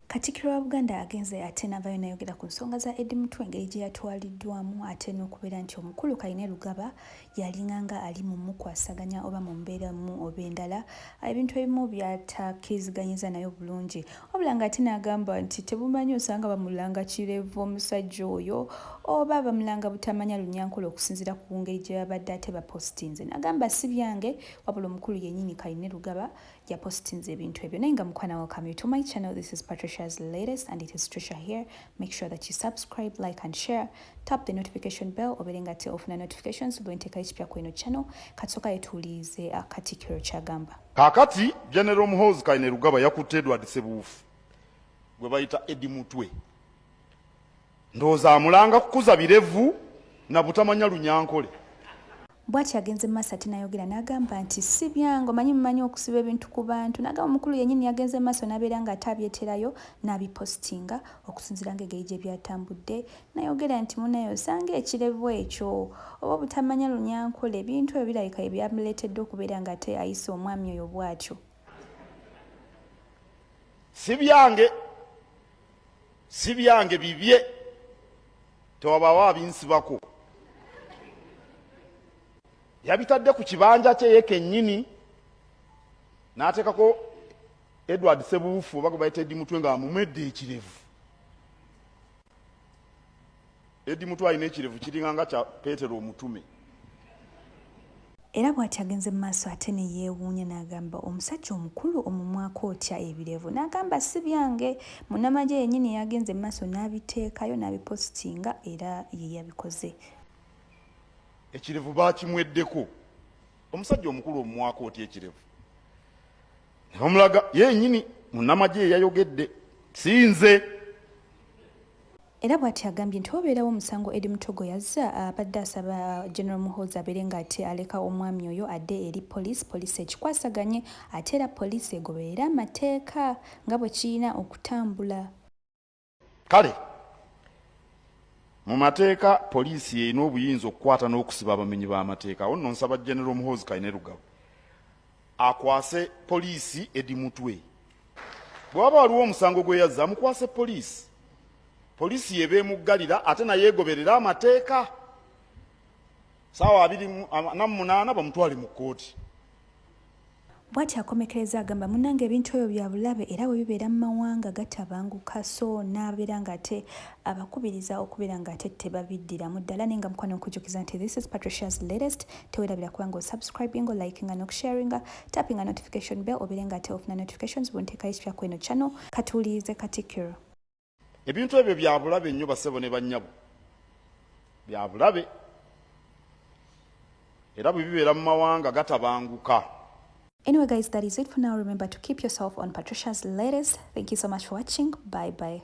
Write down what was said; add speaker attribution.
Speaker 1: Katikkiro wa Buganda agenze ate n'avaayo n'ayogera ku nsonga za Eddie Mutwe engeri gye yatwaliddwamu ate n'okubeera nti omukulu Kayine Lugaba yalinganga ali mu mukwasaganya oba mu mbeera emu oba endala ebintu ebimu by'atakkiriziganyizza nayo bulungi wabula ng'ate n'agamba nti tebumanyi osanga bamulanga kirevu omusajja oyo oba bamulanga butamanya Lunyankole okusinziira ku ngeri gye babadde ate bapositinze n'agamba si byange wabula omukulu yennyini Kayine Lugaba yapositinze ebintu ebyo naye nga mukwana welcome you to my channel this is patricia's latest and it is trisha here make sure that you subscribe like and share tap the notification bell obere nga te ofuna notifications bwenteka ekipya ku eno channel katsoka yetuwulirize akatikiro uh, kyagamba kakati
Speaker 2: general muhoozi kainerugaba yakutte edward sebuufu gwe bayita edi mutwe Ndowooza amulanga kukuza birevu na butamanya Lunyankole. Bwatyo
Speaker 1: agenze mu maaso ate nayogera n'agamba nti si byange omanyi mumanyi okusiba ebintu ku bantu n'agamba omukulu yennyini yagenze mu maaso n'abeera ng'ate abyeterayo n'abipositinga okusinziira ng'egeri gye byatambudde nayogera nti munaye osanga ekirevu ekyo oba obutamanya lunyankole ebintu ebyo birabika bye byamuleetedde okubeera ng'ate ayisa omwami oyo bwatyo si byange
Speaker 2: si byange bibye tewabawo abinsibako yabitadde ku kibanja kye ye kennyini n'ateekako edward sebuufu oba gwe bayita edi mutwe nga amumwedde ekirevu Edi mutu alina ekirevu kiringa nga kya Petero omutume.
Speaker 1: Era bwati agenze mu maaso ate ne yeewuunya n'agamba, omusajja omukulu omumwako otya ebirevu? N'agamba, si byange, munnamagye yennyini y'agenze mu maaso n'abiteekayo n'abipositinga era ye yabikoze.
Speaker 2: Ekirevu baakimweddeko. Omusajja omukulu omumwako otya ekirevu? Ne bamulaga ye yennyini munnamagye ye yayogedde, si nze.
Speaker 1: Era bwati agambye nti wabeerawo omusango Eddie Mutogo yazza abadde asaba General Muhoozi abeere nga ate aleka omwami oyo adde eri poliisi poliisi ekikwasaganye ate era poliisi egoberere amateeka nga bwe kirina okutambula.
Speaker 2: Kale mu mateeka poliisi y'erina obuyinza okukwata n'okusiba abamenyi b'amateeka. Awo nno nsaba General Muhoozi Kainerugaba akwase poliisi edi mutwe bwe waba waliwo omusango gweyazza amukwase poliisi poliisi yeba emuggalira ate naye egoberera amateeka saawa abiri namunaana bamutwale mu kkooti
Speaker 1: bwati akomekereza agamba munange ebintu ebyo bya bulabe era bwe bibeera mu mawanga gatabanguka so n'abeera ng'ate abakubiriza okubeera ng'ate tebabiddiramu ddala naye nga mukwano nkujukiza nti this is patricia's latest tewerabira kuba nga osubscribinga olikinga nokusharinga tappinga notification bell obeere nga ate ofuna notifications bunteekayo ekipya kweno channel katuwulirize katikiro ebintu
Speaker 2: ebyo byabulabe nnyo basebo ne bannyabo byabulabe era bwe bibeera mu mawanga gatabanguka Anyway
Speaker 1: guys, that is it for now. Remember to keep yourself on Patricia's latest. Thank you so much for watching. Bye bye.